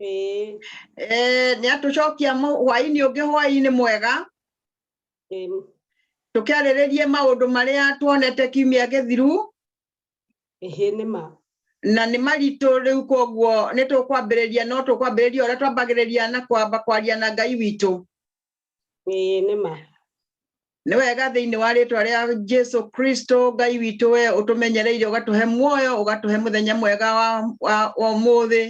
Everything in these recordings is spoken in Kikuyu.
Ĩĩ. Eh, nĩ atũcokia mũ- hwaĩ-inĩ ũngĩ hwaĩ-inĩ mwega Ĩĩ. tũkĩarĩrĩrie maũndũ marĩa tuonete kiumia gĩthiru Ĩhĩ nĩ ma. na nĩ maritũ rĩu koguo nĩ tũkwambĩrĩria no tũkwambĩrĩria ũrĩa twambagĩrĩria na kwamba kwaria na ngai witũ ĩĩ nĩ ma nĩ wega thĩinĩ wa rĩtwa rĩa jesu kristo ngai witũ we ũtũmenyereire ũgatũhe muoyo ũgatũhe mũthenya mwega wa, wa, wa ũmũthĩ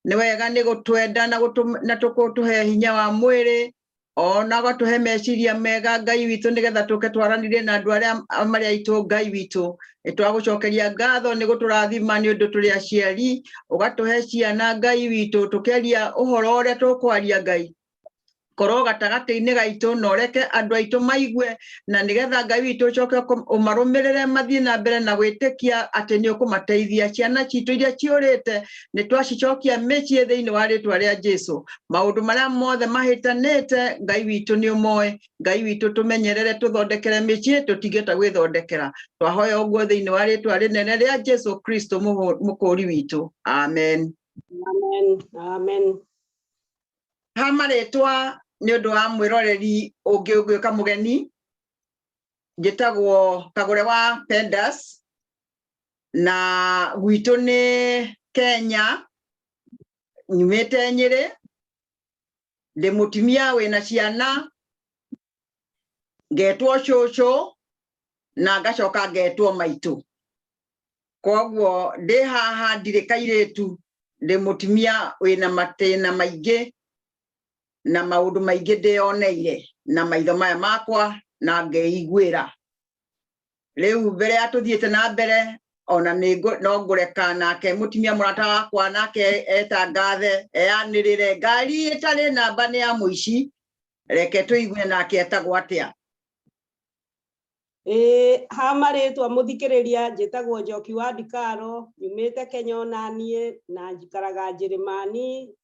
nĩ wega nĩ gũtwenda na, gũtũ- na tũkũtũhe hinya wa mwĩrĩ ona ũgatũhe meciria mega ngai witũ nĩgetha tũke twaranire na andũ arĩa a- marĩ aitũ ngai witũ nĩ twagũcokeria ngatho nĩ gũtũrathima nĩ ũndũ tũrĩ aciari ũgatũhe ciana ngai witũ tũkĩaria ũhoro ũrĩa tũkwaria ngai korwo gatagatĩ-inĩ gaitũ na ũreke andũ aitũ maigue na nĩgetha ngai witũ ũcoke ũkũ- ũmarũmĩrĩre mathiĩ na mbere na gwĩtĩkia atĩ nĩ ũkũmateithia ciana citũ iria ciũrĩte nĩ twacicokia mĩciĩ thĩinĩ wa rĩtwa rĩa jesu maũndũ marĩa mothe mahĩtanĩte ngai witũ nĩ ũmoĩ ngai witũ tũmenyerere tũthondekere mĩciĩ tũtingĩhota gwĩthondekera twahoya ũguo thĩinĩ wa rĩtwa rĩnene rĩa jesu kristo mũhũ- mũkũũri witũ amen Amen. Amen. ha marĩtwa nĩ ũndũ wa mwĩroreri ũngĩ ũngĩũka mũgeni njĩtagwo kagũre wa pendas na gwitũ nĩ kenya nyumĩte nyĩrĩ ndĩ mũtumia wĩna ciana ngetwo cũcũ na ngacoka ngetwo maitũ koguo ndĩ haha ndirĩ kairĩtu ndĩ mũtumia wĩna matĩna maingĩ na maũndũ maingĩ ndĩyoneire na maitho maya makwa na ngeiguĩra rä u mbere ya tå thiä te na mbere ona no ngå reka nake må timia må rata wakwa nake eta ngathe eanä rä re ngari ä tarä namba nä ya må ici reke tå igue nake etagwo atä a Ĩĩ, ha marĩtwa mũthikĩrĩria njĩtagwo Njoki wa Ndikaro, nyumĩte Kenya onaniĩ na njikaraga Njĩrĩmani,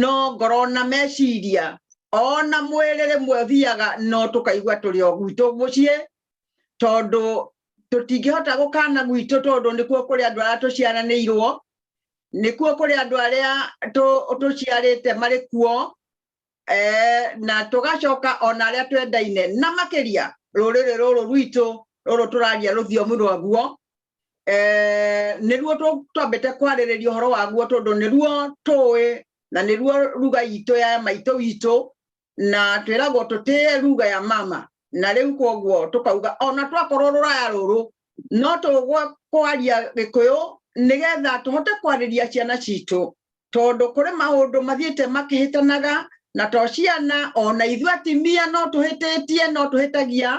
no ngoro na meciria ona mwĩrĩ rĩmwe thiaga no tũkaigua tũrĩ o gwitũ mũciĩ tondũ tũtingĩhota gũkana gwitũ tondũ nĩkuo kũrĩ andũ arĩa tũciaranĩirwo nĩkuo kũrĩ andũ arĩa tũciarĩte marĩ kuo eh, na tũgacoka ona arĩa twendaine na makĩria rũrĩrĩ rũrũ rwitũ rũrũ tũraria rũthiomi rwaguo eh, nĩruo twambĩte kwarĩrĩria ũhoro waguo tondũ nĩruo tũĩ na nĩruo ruga itũ ya maitũ witũ na twĩragwo tũtĩe ruga ya mama na rĩu koguo tũkauga ona twakorwo rũraya rũrũ no tũgwa kwaria gĩkũyũ nĩgetha tũhote kwarĩria ciana citũ tondũ kũrĩ maũndũ mathiĩte makĩhĩtanaga na to ciana ona ithuĩ atimia no tũhĩtĩtie no tũhĩtagia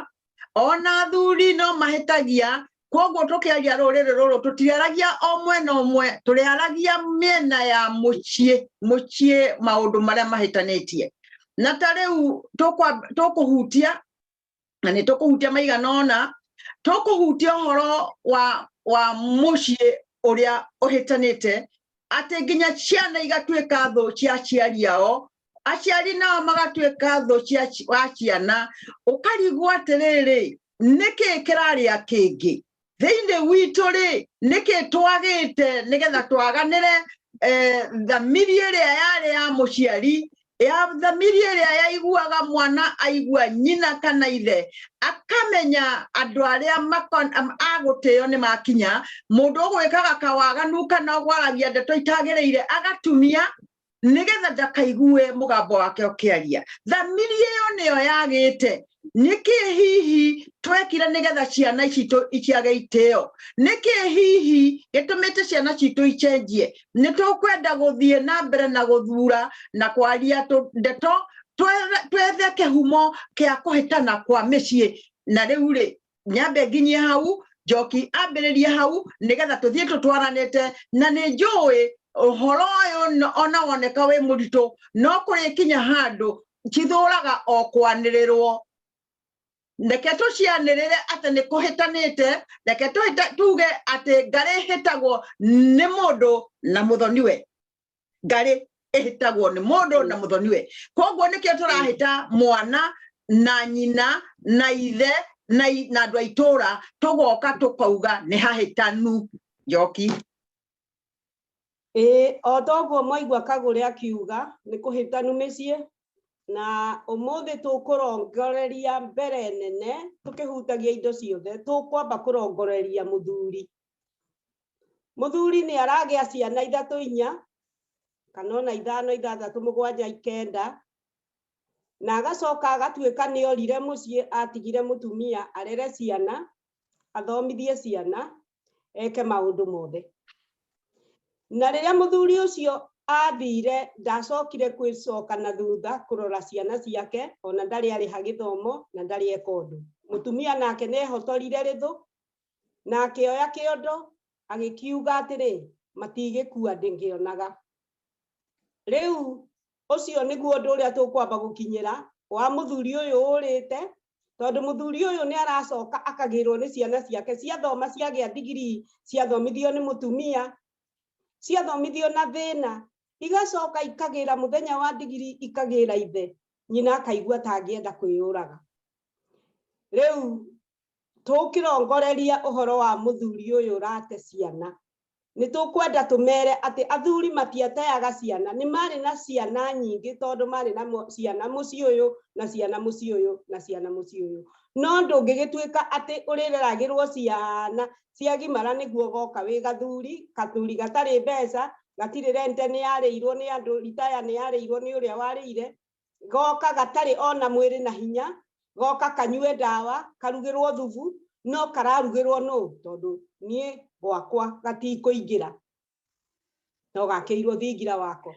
ona athuri no mahĩtagia koguo tũkĩaria rũrĩrĩ rũrũ tũtiaragia o mwena ũmwe tũrĩaragia mĩena ya mũciĩ mũciĩ maũndũ marĩa mahĩtanĩtie na ta rĩu tũkũhutia na nĩ tũkũhutia maigana ona tũkũhutia ũhoro wa wa mũciĩ ũrĩa ũhĩtanĩte atĩ nginya ciana igatuĩka thũ cia aciari ao aciari nao magatuĩka thũ cia ci- wa ciana ũkarigwo atĩrĩrĩ nĩkĩ kĩrarĩa kĩngĩ thĩinĩ witũ rĩ nĩkĩ twagĩte nĩgetha twaganĩre eh, thamiri ĩrĩa yarĩ ya mũciari ya thamiri ĩrĩa yaiguaga mwana aigua nyina kana ithe akamenya andũ arĩa makon- am- a gũtĩo nĩ makinya mũndũ ũgwĩkaga kawaganu kana ũgwaragia ndeto itagĩrĩire agatumia nĩgetha ndakaigue mũgambo wake ũkĩaria thamiri ĩyo nĩyo yagĩte nĩkĩ hihi twekire nĩgetha ciana citũ iciage itĩo nĩkĩ hihi gĩtũmĩte ciana citũ icenjie nĩ tũkwenda gũthiĩ na mbere na gũthura na kwaria tũ- ndeto twethe- twethe kĩhumo kĩa kũhĩtana kwa mĩciĩ na rĩu rĩ nyambe nginyie hau njoki ambĩrĩrie hau nĩgetha tũthiĩ tũtwaranĩte na nĩ njũĩ ũhoro ũyũ no- ona woneka wĩ mũritũ no kũrĩkinya handũ cithũraga o kwanĩrĩrwo reke tũcianĩrĩre atĩ nĩ kũhĩtanĩte reke tũhĩta- tuge atĩ ngarĩ hĩtagwo nĩ mũndũ na mũthoniwe ngarĩ ĩhĩtagwo nĩ mũndũ na mũthoni we koguo nĩkĩo tũrahĩta mwana na nyina na ithe na i- na andũ a itũũra tũgoka tũkauga nĩ hahĩtanu njoki Ĩĩ, o toguo mwaigua kagũrĩ akiuga nĩ kũhĩtanu mĩciĩ na ũmũthĩ tũkũrongoreria mbere nene tũkĩhutagia indo ciothe tũkwamba kũrongoreria mũthuri muthuri ni aragia ciana ithatu inya kana ona ithano ithathatu mugwanja ikenda na agacoka agatuika ni orire mucii atigire mutumia arere ciana athomithie ciana eke maundu mothe na riria muthuri ucio athire ndacokire kwicoka na thutha kurora ciana ciake ona ndari ariha githomo na ndari eka undu mutumia nake ni ehotorire rithu na akĩoya kĩondo agĩkiuga atĩrĩ matigĩkua ndĩngĩonaga rĩu ũcio nĩguo ũndũ ũrĩa tũkwamba gũkinyĩra wa mũthuri ũyũ ũrĩte tondũ mũthuri ũyũ nĩ aracoka akagĩrwo nĩ ciana ciake ciathoma ciagĩa ndigiri ciathomithio nĩ mũtumia ciathomithio na thĩna igacoka ikagĩra mũthenya wa ndigiri ikagĩra ithe nyina akaigua atangĩenda kwĩyũraga rĩu Tũngĩrongoreria ũhoro wa mũthuri ũyũ ũrate ciana, nĩ tũkwenda tũmere atĩ athuri matiateaga ciana. Nĩ maarĩ na ciana nyingĩ tondũ maarĩ na ciana mũciĩ ũyũ, na ciana mũciĩ ũyũ, na ciana mũciĩ ũyũ. No ndũngĩgĩtuĩka atĩ ũrĩreragĩrũo ciana ciagimara nĩguo ũgoka wĩ gathuri, gathuri gatarĩ mbeca, gatirĩ rent nĩ yarĩirũo nĩ andũ, retire nĩ yarĩirũo nĩ ũrĩa warĩire, goka gatarĩ ona mwĩrĩ na hinya goka kanyue ndawa karugĩrwo thubu no kararugĩrwo nũ tondũ niĩ gwakwa gatikũingĩra no gakĩirwo thingira wako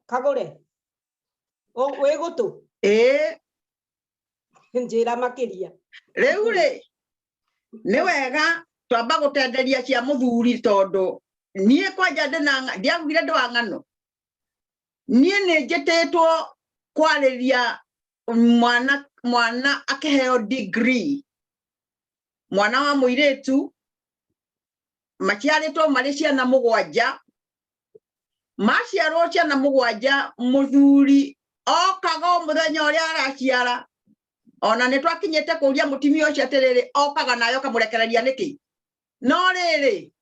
kagũre wĩ gũtũ njĩra makĩria rĩu rĩ nĩ wega twamba gũtenderia cia mũthuri tondũ niä kwanja ndä na ndiagugire ndä wa ng'ano niä nä njä tä two kwarä ria mwana mwana akeheo degree mwana wa muiretu maciaritwo mari ciana mugwanja maciarwo ciana mugwanja muthuri okaga o muthenya uria araciara ona ni twakinyite kuria mutimia ucio atiriri okaga nayo kamurekereria niki no riri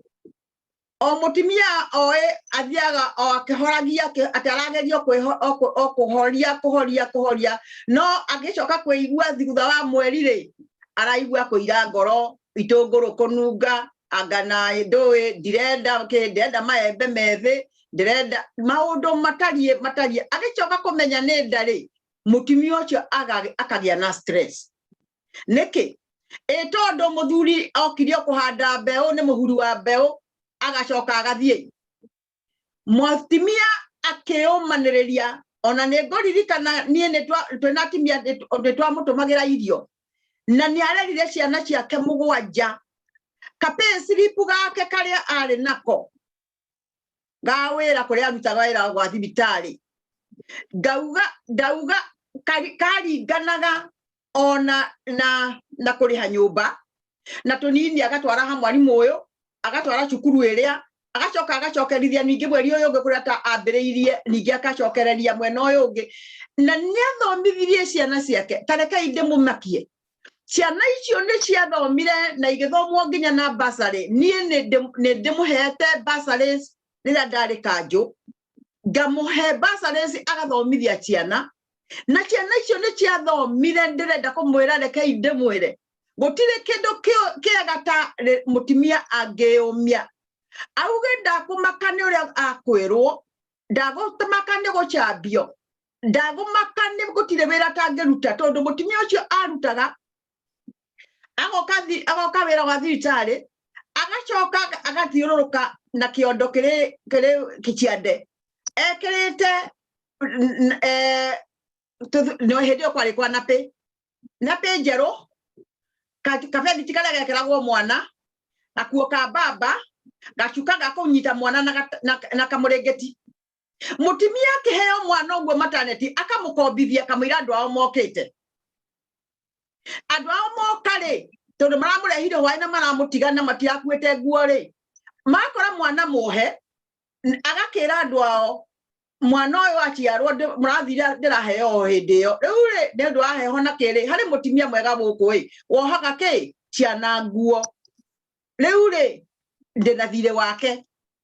o mutumia oĩ athiaga o akĩhoragia akĩ- atĩ aragerio kwĩho- o kũ- o kũhoria kũhoria kũhoria no angĩcoka kwĩigua thutha wa mweri rĩ araigua kũira ngoro itũngũrũ kũnunga anga na ndũĩ ndirenda kĩ ndirenda maembe methĩ ndĩrenda maũndũ matariĩ matariĩ agĩcoka kũmenya nĩ ndarĩ mũtumia ũcio aga- akagĩa na stress nĩkĩ ĩ tondũ mũthuri okirio kũhanda mbeũ nĩ mũhuri wa mbeũ agacoka agathiĩ mũtumia akĩũmanĩrĩria ona nĩ ngũririkana niĩ twĩna atumia nĩ twamũtũmagĩra irio na nĩ arerire ciana ciake mũgwanja kapĩsiripu gake karĩa arĩ nako gawĩra kũrĩa arutaga wĩra gwa thibitarĩ ngauga ndauga karinganaga ona na na kũrĩha nyũmba na tũnini agatwara ha mwarimũ ũyũ agatwara cukuru ĩrĩa agacoka agacokerithia ningĩ mweri ũyũ ũngĩ kũrĩa ambĩrĩirie ningĩ agacokereria mwena ũyũ ũngĩ na nĩ athomithirie ciana ciake tarekai ndĩmũmakie ciana icio nĩ ciathomire na igĩthomwo nginya na basarĩ niĩ nĩ ndĩmũhete basarĩ rĩrĩa ndarĩ kanjũ ngamũhe basarĩ agathomithia ciana na ciana icio nĩ ciathomire ndĩrenda kũmwĩra rekei ndĩmwĩre gũtirĩ kĩndũ kĩega ta mũtumia angĩyũmia auge ndakũmaka nĩ ũrĩa akwĩrwo ndagũtũmaka nĩ gũcambio ndago makane gotire wera tangeruta tondu mutumia ucio arutaga agoka agoka wera wa thiritari agacoka agathiururuka na kiondo kiri kiri kichiande ekirite eh no hindi kwari kwa napi napi njeru kabendi ti karia gekeragwo mwana gakuo ka baba gacuka gakunyita mwana na kamurengeti mutumia akiheo mwana uguo mataneti akamukombithia akamwira andu ao mokite andu ao moka ri tondu maramurehire hwae na maramutiga na matiakuite nguo ri makora mwana muhe agakira andu ao mwana uyu aciarwo murathire ndiraheo hindi iyo riu ri ni undu wa heho na kiri hari mutumia mwega guku ri wohaga ki ciana nguo riu ri ndina thire wake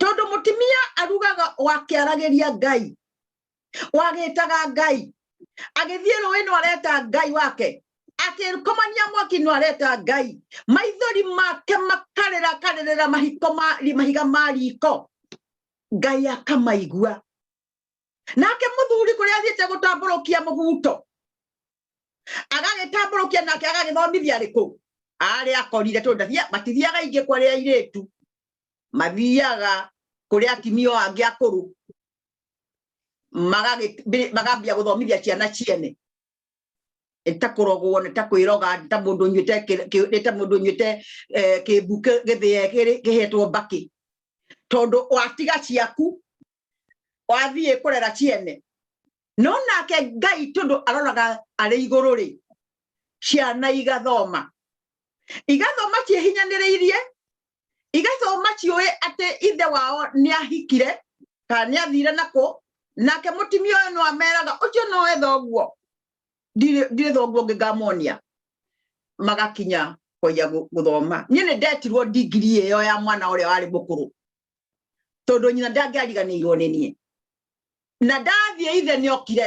tondu mutimia arugaga wakiaragiria ngai wagitaga ngai agithie rũĩ no areta ngai wake akĩrũkomania mwaki no areta ngai maithori make makarĩra akarĩrĩra mahiko mahiga ma riko ngai akamaigua nake mũthuri kũrĩa athiĩte gũtambũrũkia mũbuto agagĩtambũrũkia nake agagĩthomithia arĩkũ arĩa akorire tondũ ndathiaga matithiaga ingĩ kwa rĩa airĩtu mathiaga kũrĩa atimio angĩ akũrũ magambia gũthomithia ciana ciene nĩta kũrogwo nĩta kwĩroga nĩta mũndũ nyuĩte nĩta mũndũ nyuĩte eh, kĩmbu gĩthĩe kĩhetwo mbakĩ tondũ watiga ciaku wathiĩ kũrera ciene no nake ngai tondũ aroraga arĩ igũrũ rĩ ciana igathoma igathoma ciĩhinyanĩrĩirie igaitũ maciũĩ atĩ ithe wao nĩ ahikire kana nĩ athire nakũ nake mũtimia ũyũ no ameraga ũcio no etha ũguo ndirĩ thoguo ũngĩ ngamonia magakinya kwanja gũthoma niĩ nĩ ndetirwo ndigiri ĩyo ya mwana ũrĩa warĩ mũkũrũ tondũ nyina ndangĩariganĩirwo nĩ niĩ na ndathiĩ ithe nĩ okire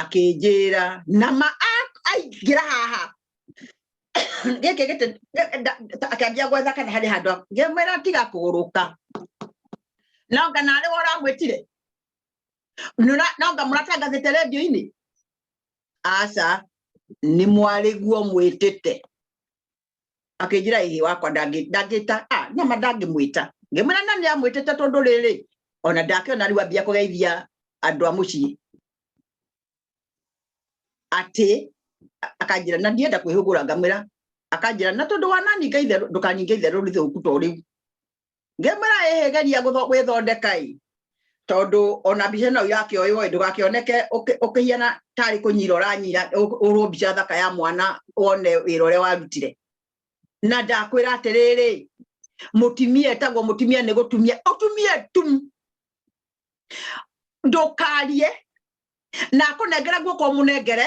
akĩnjĩra na ma aingĩra haha gĩkĩ gĩtĩ akĩambia gwetha kana harĩ handũ ngĩmwĩra tiga kũgũrũka no nga narĩ wora mwĩtire no nga mũratangathĩte redio-inĩ aca nĩ mwarĩguo mwĩtĩte akĩnjĩra ĩhĩ wakwa ndangĩ- ndangĩta ah, nama ndangĩmwĩta ngĩmwĩra na nĩ amwĩtĩte tondũ rĩrĩ ona ndakĩona rĩu ambia kũgeithia andũ a mũciĩ atĩ a- akanjĩra na ndienda kwĩhũgũra ngamwĩra akanjĩra na tondũ wananinga itherũ ndũkaninga itherũ rĩthũku to rĩu nge maraehegeria gwĩthondeka ĩ tondũ ona mbica ĩno irakĩoywo ĩ ndũgakĩoneke ũkĩhiana tarĩ kũnyira ũranyira ũhũrwo mbica thaka ya mwana wone wĩra ũrĩa warutire na ndakwĩra atĩrĩrĩ mũtumia etagwo mũtumia nĩ gũtumia ũtumia tu ndũkarie na akũnengere guoko mũnengere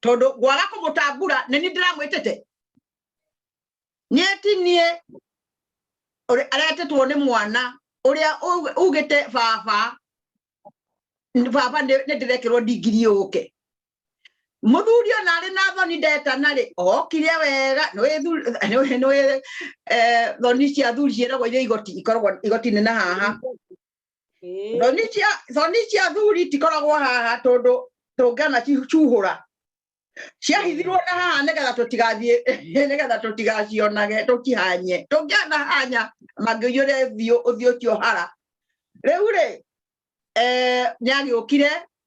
tondu gwaga kumutambura ni ni ndiramwitite nieti nie aretetwo ni mwana uria ugite baba baba ni ndirekirwo ndigiri yuke muthuri ona ari na thoni ndetana ri okire wega ni thoni cia thuri ciiragwo iria igoti ikoragwo igoti-inĩ na haha Ĩĩ. thoni cia thoni cia thuri tikoragwo haha tondũ tũngĩana cuhũra ciahithirwo na haha nĩgetha tũtigathiĩ nĩgetha tũtigacionage tũkihanye tũngĩana hanya mangĩiyũre thiũ ũthiũ ũcio hara rĩu rĩ eh, nĩagĩũkire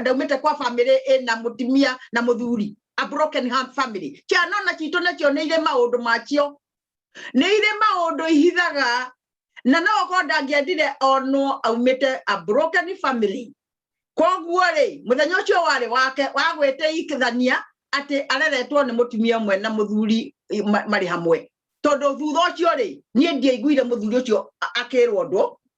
ndaumite kwa family ina mutimia na muthuri a broken heart family ciana ona citå nacio nä irä maå ndå macio nä irä maå ndå ihithaga na no okorwo ndangĩendire onwo aumĩte a broken family koguo rĩ mũthenya ũcio warĩ wake wagwĩte ikithania atĩ areretwo nĩ mũtumia ũmwe na mũthuri marĩ hamwe tondũ thutha ũcio rĩ niĩ ndiaiguire mũthuri ũcio akĩrwo ũndũ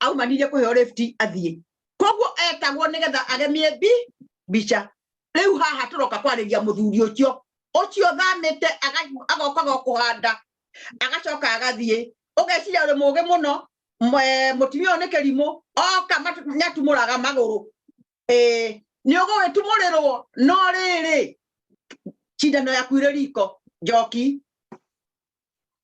aumanirie kuheo lift athie koguo etagwo nigetha agemie bi bicha riu haha turoka kwariria muthuri ucio ucio thamite agoka gokuhanda agacoka agathie ugeciria uri mugi muno mutumia uyu ni kirimu oka nyatumuraga maguru eh ni ugugitumurirwo no riri cindano yaku iri riko njoki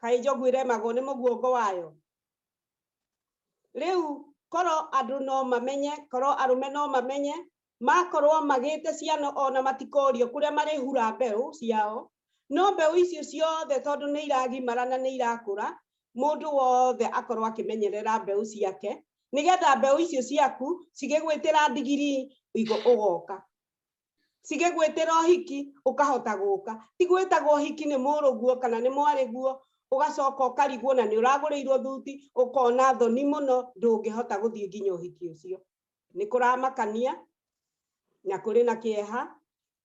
kaĩ njogu ĩremagwo nĩ mũguongo wayo rĩu korwo andũ no mamenye korwo arũme no mamenye makorwo magĩte ciana ona matikorio kũrĩa marĩhura mbeũ ciao no mbeũ icio ciothe tondũ nĩ iragimara na nĩ irakũra mũndũ wothe akorwo akĩmenyerera mbeũ ciake nĩgetha mbeũ icio ciaku cigĩgwĩtĩra ndigiri ũgoka cige gwĩtĩra ũhiki ũkahota gũka ti gwĩtagwo ũhiki nĩ mũrũguo kana nĩ mwarĩguo ũgacoka ũkarigwo na nĩ ũragũrĩirwo thuti ũkona thoni mũno ndũngĩhota gũthiĩ nginya ũhiki ũcio nĩ kũramakania na kũrĩ na kĩeha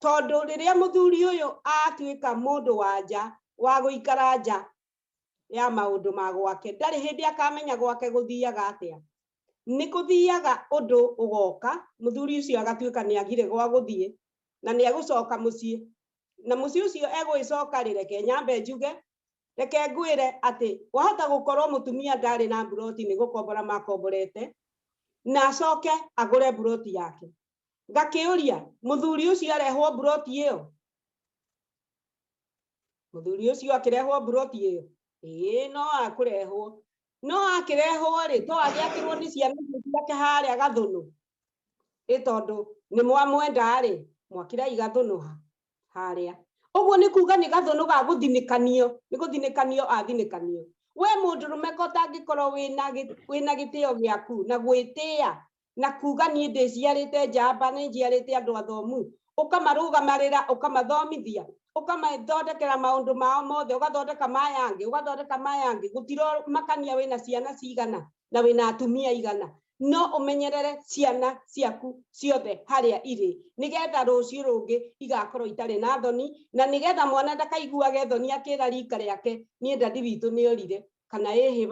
tondũ rĩrĩa mũthuri ũyũ atuĩka mũndũ wa nja wa gũikara nja ya maũndũ ma gwake ndarĩ hĩndĩ akamenya gwake gũthiaga atĩa nĩ kũthiaga ũndũ ũgoka mũthuri ũcio agatuĩka nĩ agire gwa gũthiĩ na nĩ egũcoka mũciĩ na mũciĩ ũcio egũĩcoka rĩ reke nyambe njuge reke ngwĩre atĩ wahota gũkorwo mũtumia ndarĩ na mburoti nĩ gũkombora makomborete na acoke agũre mburoti yake ngakĩũria mũthuri ũcio arehwo mburoti ĩyo mũthuri ũcio akĩrehwo mburoti ĩyo ĩĩ no akũrehwo no akĩrehwo rĩ to agĩakĩrwo nĩ ciana icio ciake harĩa gathũnũ ĩ tondũ nĩ mwamwenda rĩ mwakĩrai gathũnũ ha harĩa ũguo nĩ kuga nĩ gathũnũ ga gũthinĩkanio nĩ gũthinĩkanio athinĩkanio we mũndũrũme ko ũtangĩkorwo wĩna gĩ- wĩna gĩtĩo gĩaku na gwĩtĩa na kuga niĩ ndĩciarĩte njamba nĩ njiarĩte andũ athomu ũkamarũgamarĩra ũkamathomithia ũkamathondekera maũndũ mao mothe ũgathondeka mayangĩ ũgathondeka mayangĩ gũtiromakania wĩna ciana cigana na wĩna atumia igana no ũmenyerere ciana ciaku ciothe harĩa irĩ nĩgetha rũciũ rũngĩ igakorwo itarĩ na thoni na nĩgetha mwana ndakaiguage thoni akĩra rika rĩake niĩ ndandi witũ nĩorire kana ĩhĩ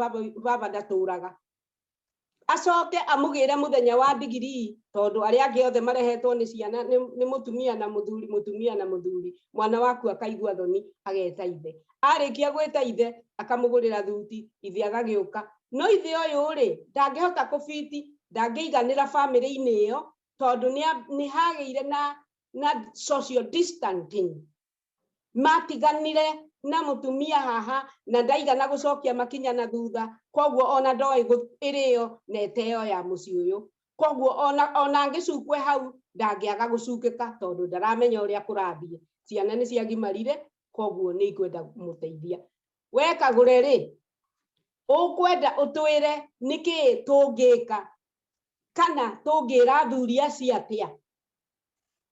baba ndatũraga acoke amũgĩre mũthenya wa ndigirii tondũ arĩa angĩ othe marehetwo nĩ ciana nĩ mũtumia na mũthuri mũtumia na mũthuri mwana waku akaigua thoni ageta ithe arĩkia gwĩta ithe akamũgũrĩra thuti ithe agagĩũka no ithe ũyũ rĩ ndangĩhota kũbiti ndangĩiganĩra famĩlĩ-inĩ ĩyo tondũ nĩ hagĩire na na social distancing Maatiganire na mũtumia haha na ndaigana gũcokia makinya na thutha, kwoguo ona ndoĩ ĩrĩyo na ĩteyo ya mũciĩ ũyũ. Kwoguo ona ona angĩcukwe hau ndangĩaga gũcukĩka tondũ ndaramenya ũrĩa kũrathiĩ. Ciana nĩ ciagimarire kwoguo nĩ ikwenda kũmũteithia. We Kagũre rĩ, ũkwenda ũtwĩre nĩkĩ tũngĩka kana tũngĩra athuri acio atĩa?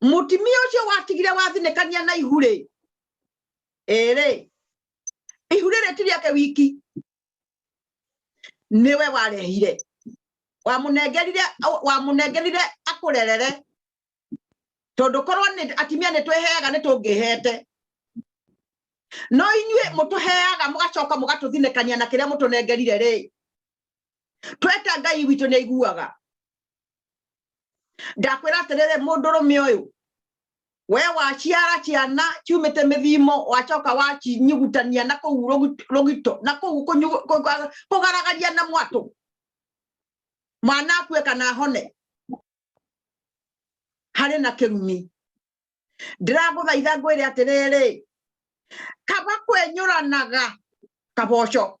mutimia ucio watigire wathinekania na ihu ri iri ihu riri ti riake wiki niwe warehire wamunengerire wamunengerire akurerere tondu korwo ni atimia ni tweheaga ni tungihete no inyuĩ mũtũheaga mũgacoka mũgatũthinĩkania na kĩrĩa mũtũnengerire rĩ tweta ngai witũ nĩ aiguaga ndakwira atiriri mundurume uyu we waciara ciana ciumite mithimo wacoka wacinyugutania na kuu rugito na kuu kugaragaria na mwatu mwana akue kana hone hari na kirumi ndiraguthaitha ngwire atiriri kaba kwenyuranaga kaboco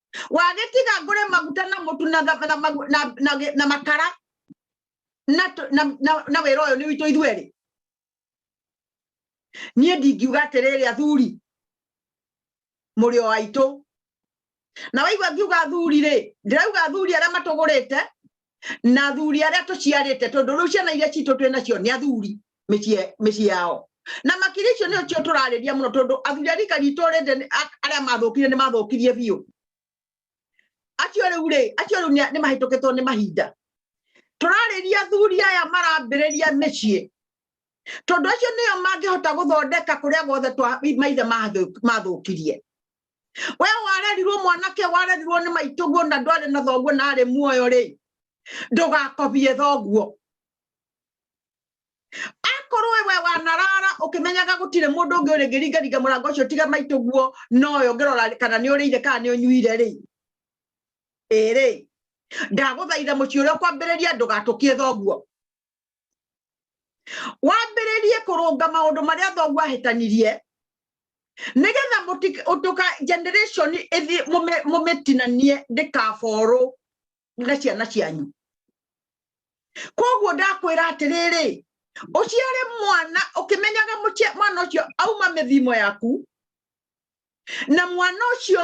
wagetiga ngure maguta na mutu na na na na makara na na na wira uyu ni witu ithwe ri nie ndingiuga atiriri athuri muri o aitu na waigua ngiuga athuri ri ndirauga athuri aria matugurite na athuri arĩa tũciarĩte tondũ rĩu ciana iria citũ twĩ nacio nĩ athuri mĩciĩ yao na makiri icio nĩo cio tũrarĩria mũno tondũ athuri a rika ritũ rĩndĩ arĩa mathũkire nĩ mathũkirie biũ acio rĩu rĩ acio rĩu nĩ mahĩtũkĩtwo nĩ mahinda tũrarĩria athuri aya marambĩrĩria mĩciĩ tondũ acio nĩo mangĩhota gũthondeka kũrĩa guothe maithe mathũkirie we warerirwo mwanake warerirwo nĩ maitũguo na ndwarĩ na thoguo na arĩ muoyo rĩ ndũgakobie thoguo akorwo we wanarara ũkĩmenyaga gũtirĩ mũndũ ũngĩ ũrĩ ngĩringaringa mũrango ũcio tiga maitũguo noyo ngĩrora kana nĩ ũrĩire kana nĩ ũnyuire rĩ ĩrĩ ndagũthaitha mũciĩ ũrĩa kwambĩrĩria ndũgatũkie thoguo wambĩrĩrie kũrũnga maũndũ marĩa thoguo ahĩtanirie nĩgetha ũtuka generation ĩthi mũmĩtinanie ndĩkaborwo na ciana cianyu koguo ndakwĩra atĩrĩrĩ ũciare mwana ũkĩmenyaga mwana ũcio auma mĩthimo yaku na mwana ũcio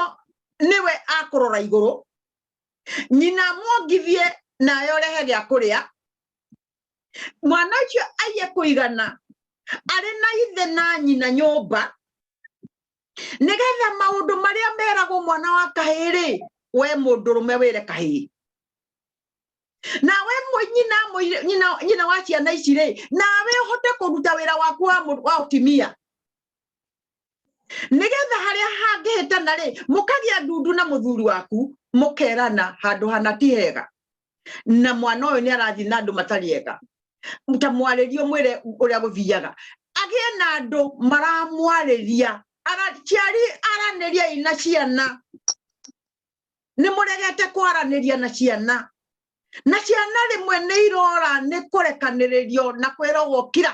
nĩwe akũrora igũrũ nyina amwongithie nayo rehe gĩa kũrĩa mwana ũcio aiye kũigana arĩ na ithe na nyina nyũmba nĩgetha maũndũ marĩa meragwo mwana wa kahĩĩ-rĩ we mũndũrũme wĩre kahĩĩ nawe nyina nyina nyina wa ciana ici-rĩ nawe ũhote kũruta wĩra waku wa wa ũtimia nĩgetha harĩa hangĩhĩtana rĩ mũkagĩa ndundu na mũthuri waku mũkerana handũ hana ti hega na mwana ũyũ nĩ arathiĩ na andũ matarĩ ega ta mwarĩrio mwĩre ũrĩa gũthiaga agĩe na andũ maramwarĩria araciari aranĩria ina ciana nĩ mũregete kwaranĩria na ciana na ciana rĩmwe nĩ irora nĩ kũrekanĩrĩrio na kwĩrogwo kira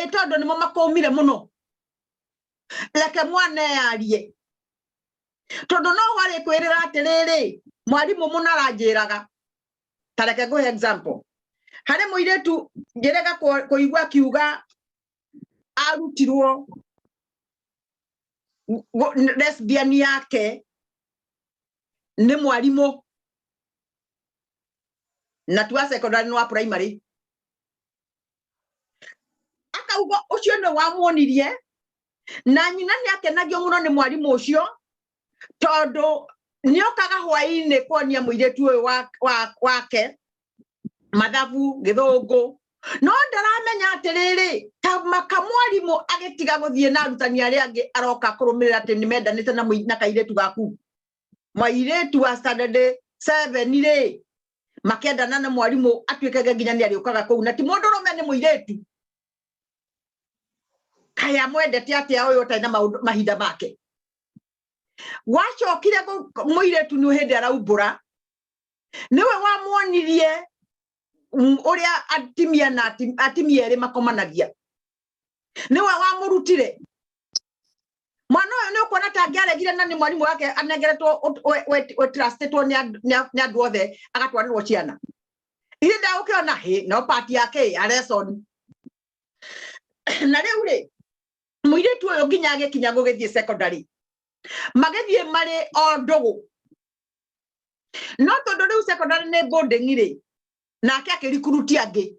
ĩtondũ nĩmo makũmire mũno reke mwana eyarie tondũ no warĩ kwĩrĩra atĩrĩrĩ mwarimũ mũna aranjĩraga ta reke ngũhe example harĩ mũirĩtu ngĩrega kũigua kiuga arutirwo lesbian yake nĩ mwarimũ na tua secondary nwa primary akauga ucio ni wamuonirie na nyina ni akenagio muno ni mwarimu ucio tondu ni okaga hwaini kuonia muiritu uyu wake mathabu githungu no ndaramenya atiriri kamwarimu agitiga guthie na arutani aria angi aroka kurumirira ati ni mendanite na kairitu gaku mairetu a standard 7 rĩ makendana na mwarimũ atuĩkage nginya nĩ arĩũkaga kũu na ti mũndũ rũme nĩ mũirĩtu kaya mwendete atĩa ũyũ ũtarĩ na mahinda make gwacokire mũirĩtu nĩ hĩndĩ araumbũra nĩwe wamwonirie ũrĩa atimia na atimia erĩ makomanagia niwe wamurutire mwana uyu ni ukuona ta angiaregire na ni mwarimu wake anengeretwo trustitwo ni andu othe agatwarirwo ciana ithe ndagukiona hi no pati yake ya lesson na riu ri muiritu uyu nginya agikinya gugithie secondary magithie mari o ndugu no tondu riu secondary ni boarding ri nake akirikuruti angi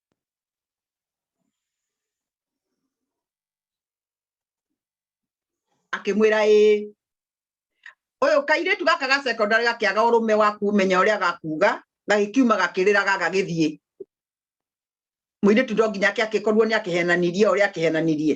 akĩmwĩra ĩĩ ũyũ kairĩtu gaka ga secondary gakĩaga ũrũme wa kumenya ũrĩa gakuga gagĩkiuma gakĩrĩra gagagĩthiĩ mũirĩtu ndo nginya ake akĩkorwo nĩ akĩhenanirie ũrĩa akĩhenanirie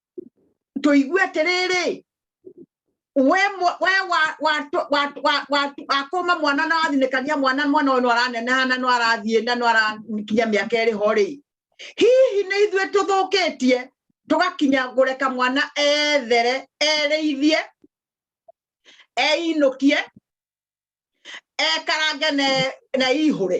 tũigue atĩrĩrĩ we we wakũma mwana na wathinĩkania mwana mwana ũyũ no araneneha na no arathiĩ na no arakinya mĩaka ĩrĩ ho rĩ hihi nĩ ithuĩ tũthũkĩtie tũgakinya kũreka mwana ethere erĩithie einũkie ekarange na ihũre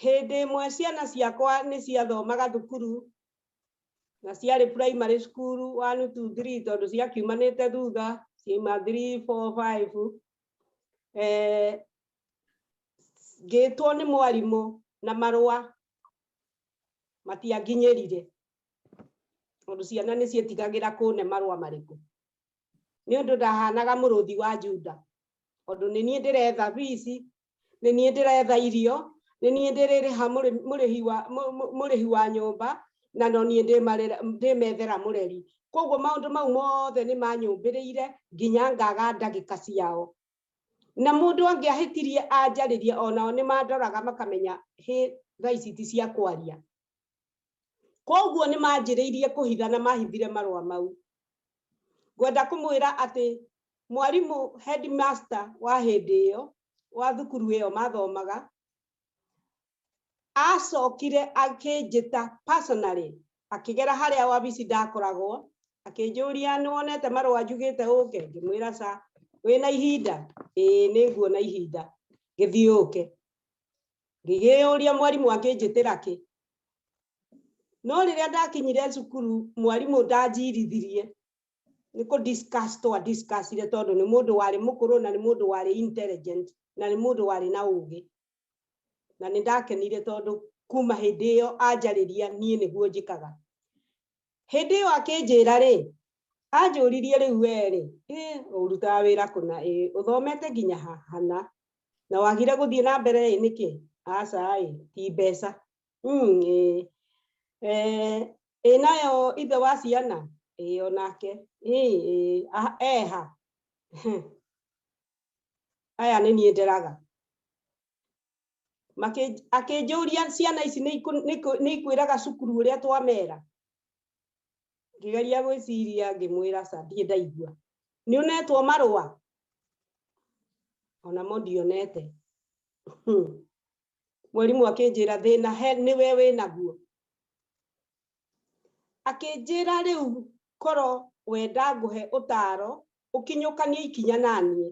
Hĩndĩ ĩmwe ciana ciakwa nĩ ciathomaga thukuru na ciarĩ primary school one two three tondũ ciakiumanĩte thutha ciaima three four five eh, ngĩtwo nĩ mwarimũ na marũa matianginyĩrire tondũ ciana nĩ ciĩtigagĩra kũne marũa marĩkũ nĩ ũndũ ndahanaga mũrũthi wa Juda tondũ nĩ niĩ ndĩretha bici nĩ niĩ ndĩretha irio nĩ niĩ ndĩrĩrĩha mũrĩhi wa nyũmba na no niĩ ndĩmethera mũreri koguo maũndũ mau mothe nĩ manyũmbĩrĩire nginya ngaga ndagĩka ciao na mũndũ angĩahĩtirie anjarĩrie onao nĩ mandoraga makamenya hĩ thaa ici ti cia kwaria. koguo nĩ manjĩrĩirie kũhitha na mahithire marũa mau ngwenda kũmwĩra atĩ mwarimũ headmaster wa hĩndĩ ĩyo wa thukuru ĩyo mathomaga acokire akĩnjĩta personally akĩgera harĩa wabici ndakoragwo akĩnjũria nĩ wonete marũa njugĩte ũke ngĩmwĩra ca wĩna ihinda ĩĩ nĩ nguona ihinda gĩthiũke ngĩgĩyũria mwarimũ angĩnjĩtĩra kĩ no rĩrĩa ndakinyire cukuru mwarimũ ndanjirithirie nĩ kũ discuss twa discussire tondũ nĩ mũndũ warĩ mũkũrũ na nĩ mũndũ warĩ intelligent na nĩ mũndũ warĩ na ũgĩ na nĩ ndakenire tondũ kuma hĩndĩ ĩyo anjarĩria niĩ nĩguo njĩkaga hĩndĩ ĩyo akĩnjĩra rĩ anjũririe rĩu werĩ ũrutaga wĩra kũna ĩ ũthomete nginya hana na wagire gũthiĩ na mbere ĩ nĩkĩ aca ĩ ti mbeca hmm, ĩ nayo ithe wa ciana ĩ onake eha aya nĩ niĩ nderaga Makĩ- akĩnjũria ciana ici nĩ ikũ- nĩ ikũ- nĩ ikwĩraga cukuru ũrĩa twamera ngĩgeria gwĩciria ngĩmwĩra aca ndirĩ ndaigua nĩ ũnetwo marũa onamo ndionete Hmm. mwarimũ akĩnjĩra thĩna he nĩwe wĩnaguo akĩnjĩra rĩu korwo wenda ngũhe ũtaro ũkinyũkanie ikinya naniĩ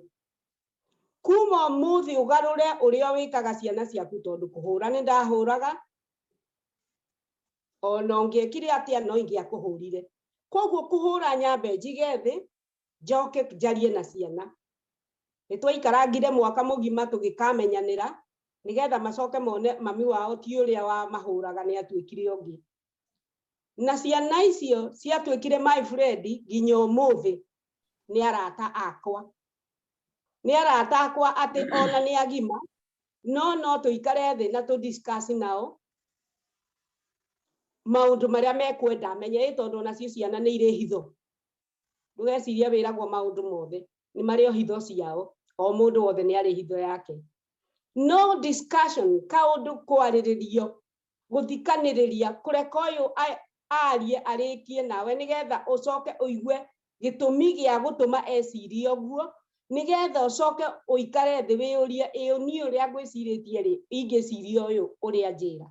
kuma ũmũthĩ ũgarũre ũrĩa wĩkaga ciana ciaku tondũ kũhũra nĩ ndahũraga ona ũngĩekire atĩa no ingĩakũhũrire koguo kũhũra nyambe njige thĩ njoke njarie na ciana nĩ twaikarangire mwaka mũgima tũgĩkamenyanĩra nĩgetha macoke mone mami wao ti ũrĩa wa mahũraga nĩ atuĩkire ũngĩ na ciana icio ciatuĩkire my friend nginya ũmũthĩ nĩ arata akwa nĩ arata akwa atĩ ona nĩ agima no no tũikare thĩ na tũ discuss nao maũndũ marĩa mekwenda menye ĩ tondũ onacio ciana nĩ irĩ hitho ndũgeciria wĩragwo maũndũ mothe nĩ marĩ o hitho ciao o mũndũ wothe nĩ arĩ hitho yake no discussion kaũndũ kwarĩrĩrio gũthikanĩrĩria kũreka ũyũ arie arĩkie nawe nĩgetha ũcoke ũigue gĩtũmi gĩa gũtũma ecirie ũguo nĩgetha ũcoke ũikare thĩ wĩyũrie ĩyo niĩ ũrĩa ngwĩcirĩtie rĩ ingĩciria ũyũ ũrĩa njĩra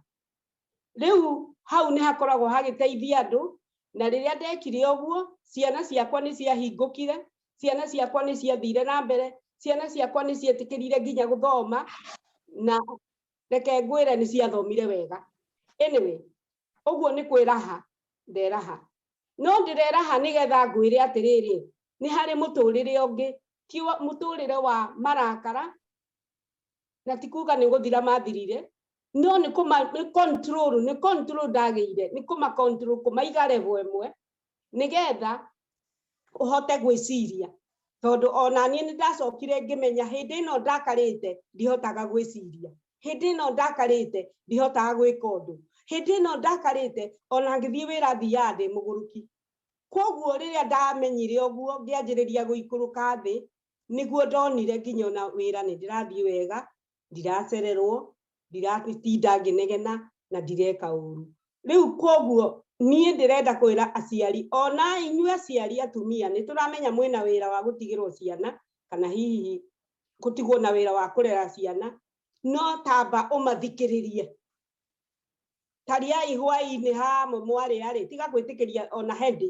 rĩu hau nĩ hakoragwo hagĩteithia andũ na rĩrĩa ndekire ũguo ciana ciakwa nĩ ciahingũkire ciana ciakwa nĩ ciathire na mbere ciana ciakwa nĩ cietĩkĩrire nginya gũthoma na reke ngwĩre nĩ ciathomire wega anyway ũguo nĩ kwĩraha nderaha no ndĩreraha nĩgetha ngwĩre atĩrĩrĩ nĩ harĩ mũtũrĩre ũngĩ ti mũtũrĩre wa marakara na ti kuga nĩ gũthira mathirire no nĩ kũma nĩ control nĩ control ndagĩire nĩ kũma control kũmaiga level ĩmwe nĩgetha ũhote gwĩciria tondũ ona niĩ nĩ ndacokire ngĩmenya hĩndĩ ĩno ndakarĩte ndihotaga gwĩciria hĩndĩ ĩno ndakarĩte ndihotaga gwĩka ũndũ hĩndĩ ĩno ndakarĩte ona ngĩthiĩ wĩra thiaga ndĩ mũgũrũki kwoguo rĩrĩa ndamenyire ũguo ngĩanjĩrĩria gũikũrũka thĩ nĩguo ndonire nginya ona wĩra nĩ ndĩrathiĩ wega ndiracererwo ndiratinda ngĩnegena na ndireka ũru rĩu koguo niĩ ndĩrenda kwĩra aciari ona inyuĩ aciari atumia nĩ tũramenya mwĩna wĩra wa gũtigĩrwo ciana kana hihi gũtigwo na wĩra wa kũrera ciana no tamba ũmathikĩrĩrie tariai hwainĩ hamo mwarĩarĩ tiga gwĩtĩkĩria ona hendi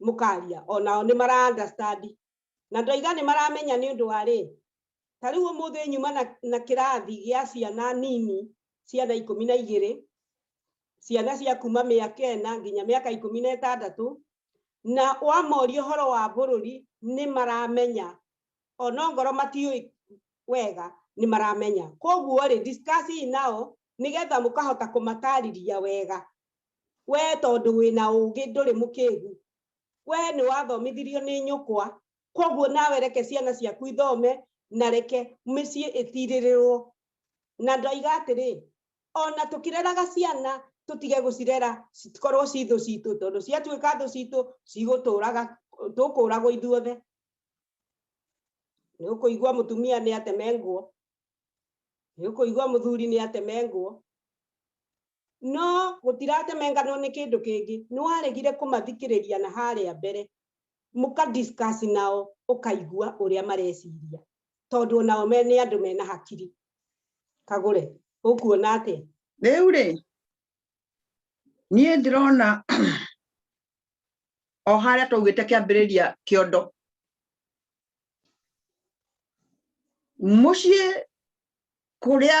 mukaria onao ni mara understand na ndoiga ni maramenya ni undu wa ri ta riu umuthi nyuma na, na kirathi gia ciana nini ciana ikumi na igiri ciana cia kuma miaka ena nginya miaka ikumi na itandatu na wamoria horo wa bururi ni maramenya ona ngoro matiui wega ni maramenya koguo ri discuss nao nigetha mukahota kumatariria wega we tondũ wĩna ũgĩ ndũrĩ mũkĩgu we nĩ wathomithirio nĩ nyũkwa koguo nawe reke ciana ciaku ithome na reke mĩciĩ ĩtirĩrĩrwo na ndoiga atĩrĩ ona tũkĩreraga ciana tũtige gũcirera cikorwo ci thũ citũ tondũ ciatuĩka thũ citũ cigũtũraga tũkũragwo ithuothe nä å kå igua må tumia nä ateme nguo nä å kå igua må thuri nä ateme nguo No gũtiratemenganwo nĩ kĩndũ kĩngĩ, nĩ waregire kũmathikĩrĩria na harĩa mbere mũka discuss nao ũkaigua ũrĩa mareciria tondũ onao me nĩ andũ mena hakiri. Kagũre, ũkuona atĩa? Rĩu rĩ, niĩ ndĩrona o harĩa twaugĩte kĩambĩrĩria kĩondo mũciĩ kũrĩa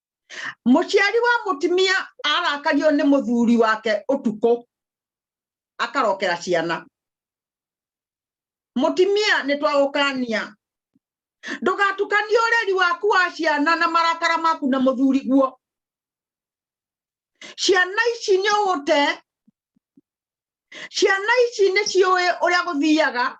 muciari wa mutimia arakario ni muthuri wake utuku akarokera ciana mutimia ni twagukania ndugatukanie ureri waku wa ciana na marakara maku na muthuri guo ciana ici ni ugute ciana ici ni ciui uria guthiaga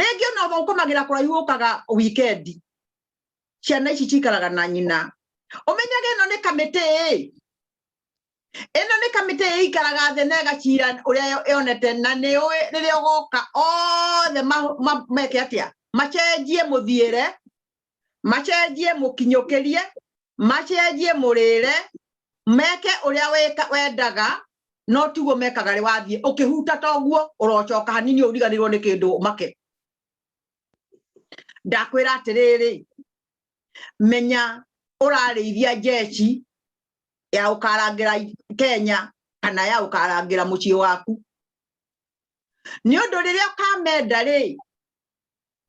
rĩngĩ ona oba ũkomagĩra kũraihu ũkaga wikendi ciana ici cikaraga na nyina ũmenyage ĩno nĩ kamĩtĩ ĩ ĩno nĩ kamĩtĩ ĩikaraga thĩ na ĩgacira ũrĩa yonete na nĩ ũĩ rĩrĩa ũgoka othe meke atĩa macenjie mũthiĩre macenjie mũkinyũkĩrie macenjie mũrĩre meke ũrĩa weka wendaga no tiguo mekaga rĩ wathiĩ ũkĩhuta toguo ũrocoka hanini ũriganĩrwo nĩ kĩndũ make ndakwĩra atĩrĩrĩ menya ũrarĩithia jeshi ya ũkarangĩra Kenya kana ya ũkarangĩra mũciĩ waku nĩ ũndũ rĩrĩa ũkamenda rĩ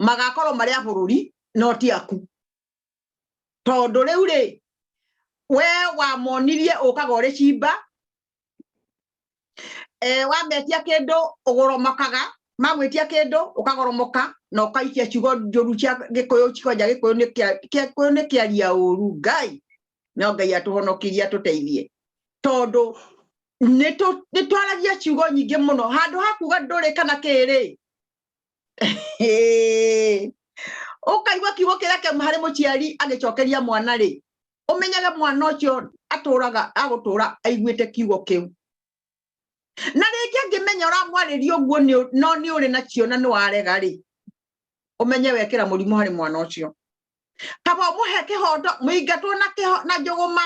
magakorwo marĩ a bũrũri no ti aku tondũ rĩu rĩ we wamonirie ũkaga ũrĩ cimba e, wametia kĩndũ ũgoromokaga magwĩtia kĩndũ ũkagoromoka na ũkaikia ciugo njũru cia gĩkũyũ cikonja gĩkũyũ nĩ gĩkũyũ nĩ kĩaria ũru ngai no ngai atũhonokirie atũteithie tondũ nĩ twaragia ciugo nyingĩ mũno handũ ha kuga ndũrĩ kana kĩrĩ ũkaigua kiugo kĩrĩa kĩauma harĩ mũciari agĩcokeria mwana rĩ ũmenyage mwana ũcio atũraga agũtũra aiguĩte kiugo kĩu na rĩngĩ angĩmenya ũramwarĩria ũguo no nĩ ũrĩ na cio na nĩ warega rĩ ũmenye wekĩra mũrimũ harĩ mwana ũcio kaba ũmũhe kĩhoto mũingatwo na njũgũma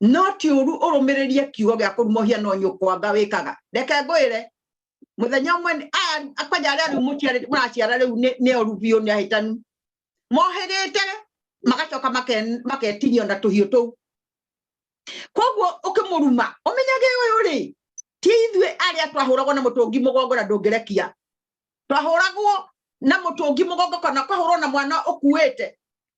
no ti uru urumiririre kiugo gia kurumohia no nyukwanga wikaga reke ngwire muthenya umwe akwanja aria riu muraciara riu ni oru biu ni ahitanu mohirite magacoka maketinio na tuhiu tuu koguo ukimuruma umenyage uyu ri ti ithuĩ arĩa twahũragwo na mũtũngi mũgongo na ndũngĩrekia twahũragwo na mũtũngi mũgongo kana kwahũrwo na mwana ũkuĩte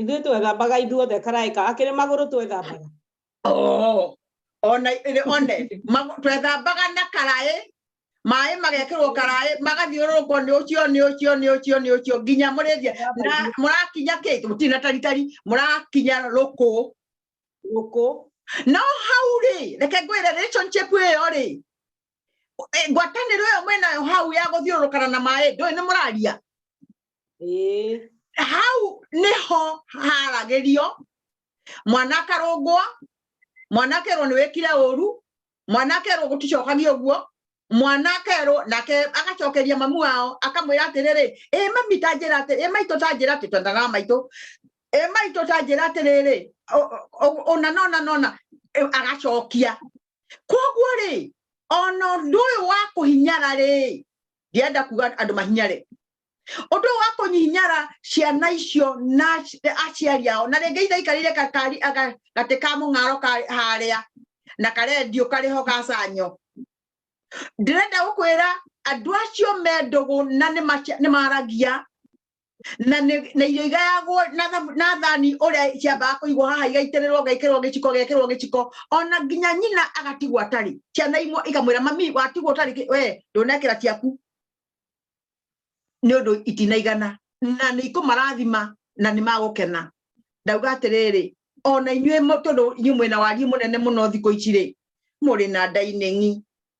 Ithuĩ twethambaga ithuothe karaĩka akĩrĩ magũrũ twethambaga. Oh, ona one twethambaga na karaĩ maĩ magekĩrwo karaĩ magathiũrũrũkwo nĩ ũcio nĩ ũcio nĩ ũcio nĩ ũcio nginya mũrĩthia na mũrakinya kĩ tũtirĩ na taritari mũrakinya rũkũ rũkũ no hau rĩ reke ngwĩre relationship ĩyo rĩ Eh, ngwatanĩro ĩyo mwĩnayo hau ya gũthiũrũrũkana na maĩ ndũĩ nĩ mũraria hau nĩho haragĩrio mwana akarũngwo mwana akerwo nĩ wĩkire ũru mwana akerwo gũticokagio ũguo mwana akerwo nake agacokeria mamu wao akamwĩra atĩrĩrĩ ĩ mami ta njĩra atĩ ĩ maitũ ta njĩra atĩ twendana maitũ ĩ maitũ ta njĩra atĩrĩrĩ ũna nona nona agacokia koguo rĩ ona ũndũ ũyũ wa kũhinyara rĩ ndienda kuga andũ mahinyare ũndũ ũyũ wa kũnyihinyara ciana icio na aciari ao na rĩngĩ ithaikarire kakari gatĩ ka mũng'aro harĩa na karendio karĩho gacanyo ndĩrenda gũkwĩra andũ acio mendũgũ na nĩ maragia na nĩ- na irio igayagwo na thamu- na thani ũrĩa ciambaga kũigwo haha igaitĩrĩrwo ngaikĩrĩrwo gĩciko gĩkĩrwo gĩciko ona nginya nyina agatigwo atarĩ ciana imwe ikamwĩra mami watigwo ũtarĩ kĩ- we ndũnekĩra ciaku nĩ ũndũ itinaigana na nĩ ikũmarathima na nĩ magũkena ndauga atĩrĩrĩ ona inyuĩ mũ- tondũ inyuĩ mwĩna wariĩ mũnene mũno thikũ ici rĩ mũrĩ na ndaineng'i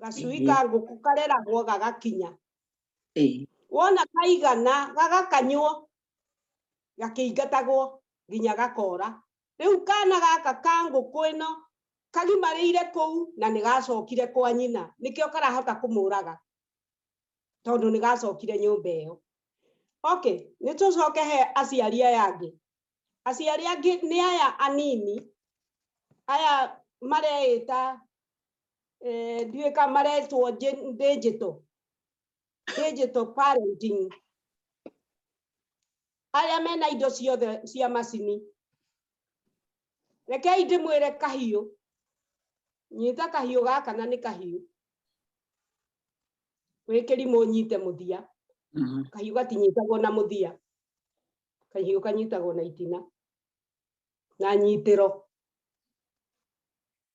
gacui ka ngũkũ kareragwo gagakinya Ĩĩ. wona kaigana gagakanywo gakĩingatagwo nginya gakora rĩu kana gaka ka ngũkũ ĩno kagimarĩire kũu na nĩ gacokire kwa nyina nĩkĩo karahota kũmũraga tondũ nĩ gacokire nyũmba ĩyo okay nĩ tũcoke he aciari aya angĩ aciari angĩ nĩ aya anini aya mareĩta eh, ndiä ka maretwo nji- digital digital parenting arĩa mena indo ciothe cia macini rekei ndĩmwĩre kahiũ nyita kahiũ gaka na nĩ kahiũ wĩ kĩrimũ nyite mũthia Mhm. kahiũ gatinyitagwo na mũthia kahiũ kanyitagwo na itina na nyitĩro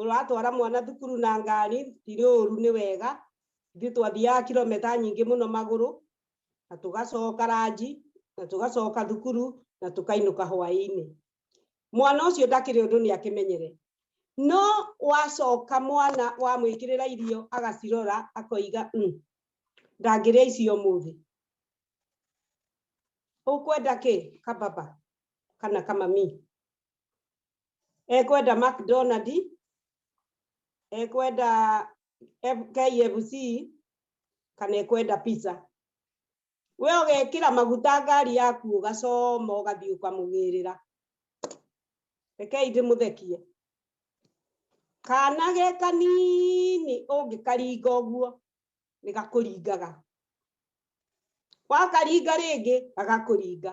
ũratwara mwana thukuru na ngari tirĩ ũru nĩ wega ithuĩ twathiaga kilometa nyingĩ mũno magũrũ na tũgacoka ranji na tũgacoka thukuru na tũkainũka hwaĩ-inĩ mwana ũcio ndakĩrĩ ũndũ nĩ akĩmenyere no wacoka mwana wamwĩkĩrĩra irio agacirora akoiga mm, ndangĩrĩa icio mũthĩ ũkwenda kĩ kababa kana kamami ekwenda McDonald, ekwenda KFC, kana ekwenda pizza. We ũgekĩra maguta ngari yaku ũgacoma ũgathiĩ ũkamũgĩrĩra. Rekei ndĩmũthekie. Kana ge kanini ũngĩkaringa ũguo nĩ gakũringaga. Wakaringa rĩngĩ gagakũringa.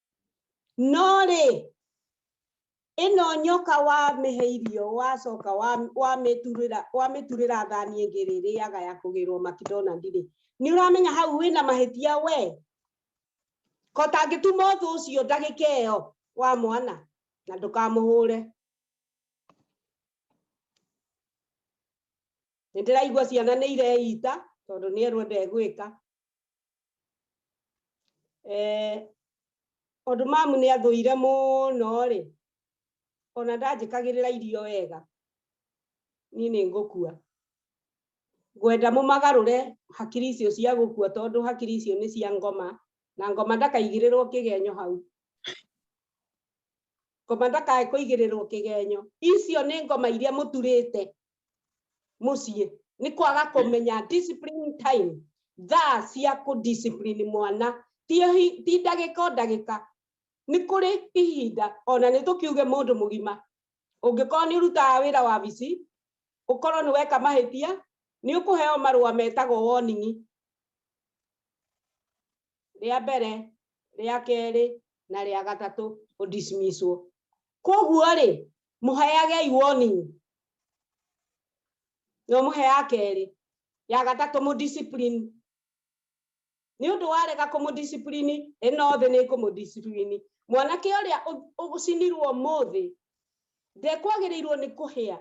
no rĩ ĩno nyoka wamĩhe irio wacoka wamĩturĩra thani ĩngĩ rĩ rĩaga ya kũgĩrwo makidonald rĩ nĩ ũramenya hau wĩna mahĩtia we ko tangĩtuma ũthũ ũcio ndagĩka ĩyo wa mwana na ndũkamũhũre nä ndä raigua ciana nä ireita tondå nä erwo ndegwä ka Eh, tondũ mamu nĩ athũire mũno rĩ ona ndanjĩkagĩrĩra irio wega niĩ nĩ ngũkua ngwenda mũmagarũre hakiri icio cia gũkua tondũ hakiri icio nĩ cia ngoma na ngoma ndakaigĩrĩrwo kĩgenyo hau ngoma ndakae kũigĩrĩrwo kĩgenyo icio nĩ ngoma iria mũturĩte muciĩ nĩ kwaga kũmenya discipline time thaa cia kũ discipline mwana ti ndagĩka o ndagĩka nĩ kũrĩ ihinda ona nĩ tũkiuge mũndũ mũgima ũngĩkorwo nĩ ũrutaga wĩra wa bici ũkorwo nĩ weka mahĩtia nĩ ũkũheo marũa metagwo warning rĩa mbere rĩa kerĩ na rĩa gatatũ ũdismisswo koguo rĩ mũheagei warning no mũhe ya kerĩ ya gatatũ mũ discipline nĩ ũndũ warega kũmũ discipline ĩno thĩ nĩ kũmũ discipline mwanake ũrĩa ũcinirwo mũthĩ ndekwagĩrĩirwo nĩ kũhĩa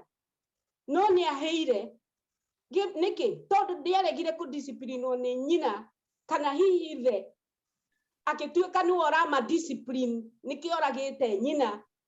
no nĩ ahĩire nĩkĩ tondũ ndĩaregire kũ discipline nĩ nyina kana hihi ithe agĩtuĩka nĩwe ũrama discipline nĩkĩoragĩte nyina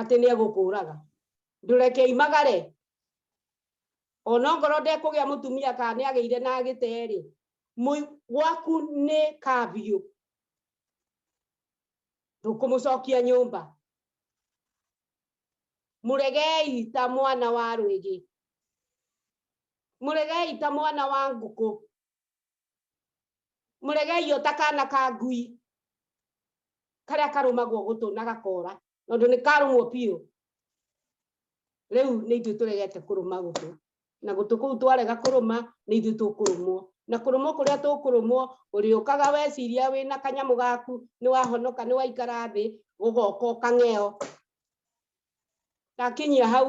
atĩ nĩ egũkũũraga ndũreke imagare ona ngoro ndekũgĩa mũtumia kana nĩ agĩire na gĩterĩ gwaku nĩ kabiũ ndũkũmũcokia nyũmba mũregei ta mwana wa rwĩgĩ mũregei ta mwana wa ngũkũ mũregei o ta kana ka ngui karĩa karũmagwo gũtũ na gakora tondũ nĩ karũmwo biũ rĩu nĩ ithuĩ tũregete kũrũma gũtũ na gũtũ kũu twarega kũrũma nĩ ithuĩ tũkũrũmwo na kũrũmwo kũrĩa tũkũrũmwo ũrĩũkaga weciria wĩ na kanyamũ gaku nĩ wahonoka nĩ waikara thĩ gũgoka ũkang'eo ndakinyia hau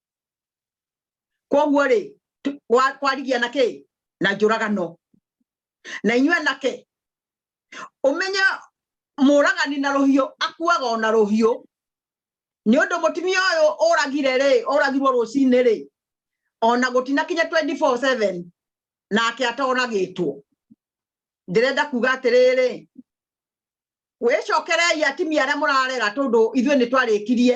koguo rĩ kwarigia na kĩ na njũragano na inyuĩ anake ũmenye mũragani na rũhiũ akuaga o na rũhiũ nĩ ũndũ mũtumia ũyũ ũragire rĩ ũragirwo rũcinĩ rĩ ona gũtina kinya 24/7 nake atoragĩtwo ndĩrenda kuga atĩrĩrĩ wĩcokerei atimia arĩa mũrarera tondũ ithuĩ nĩ twarĩkirie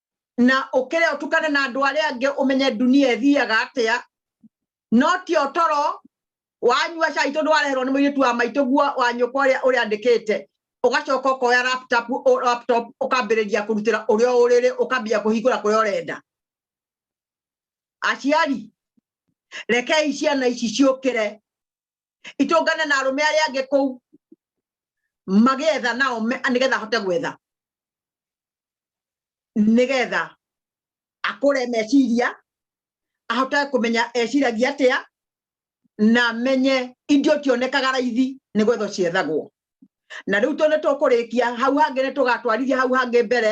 na ukire utukane na andu aria angi umenye dunia ithiaga atia no ti otoro wanyua cai tondu wareherwo ni muiritu wa maitu guo wa nyukwa uria uria andikite ugacoka ukoya laptop laptop ukambiriria kurutira uria uriri ukambia kuhingura kuria urenda aciari rekei ciana ici ciukire itũngane na arũme arĩa angĩ kũu magetha nao nĩgetha ahote gwetha nĩgetha akũre meciria ahote kũmenya eciragia atĩa na menye indo cionekaga raithi nĩ gwetho ciethagwo na rĩu tondũ tũkũrĩkia hau hangĩ nĩ tũgatwarithia hau hangĩ mbere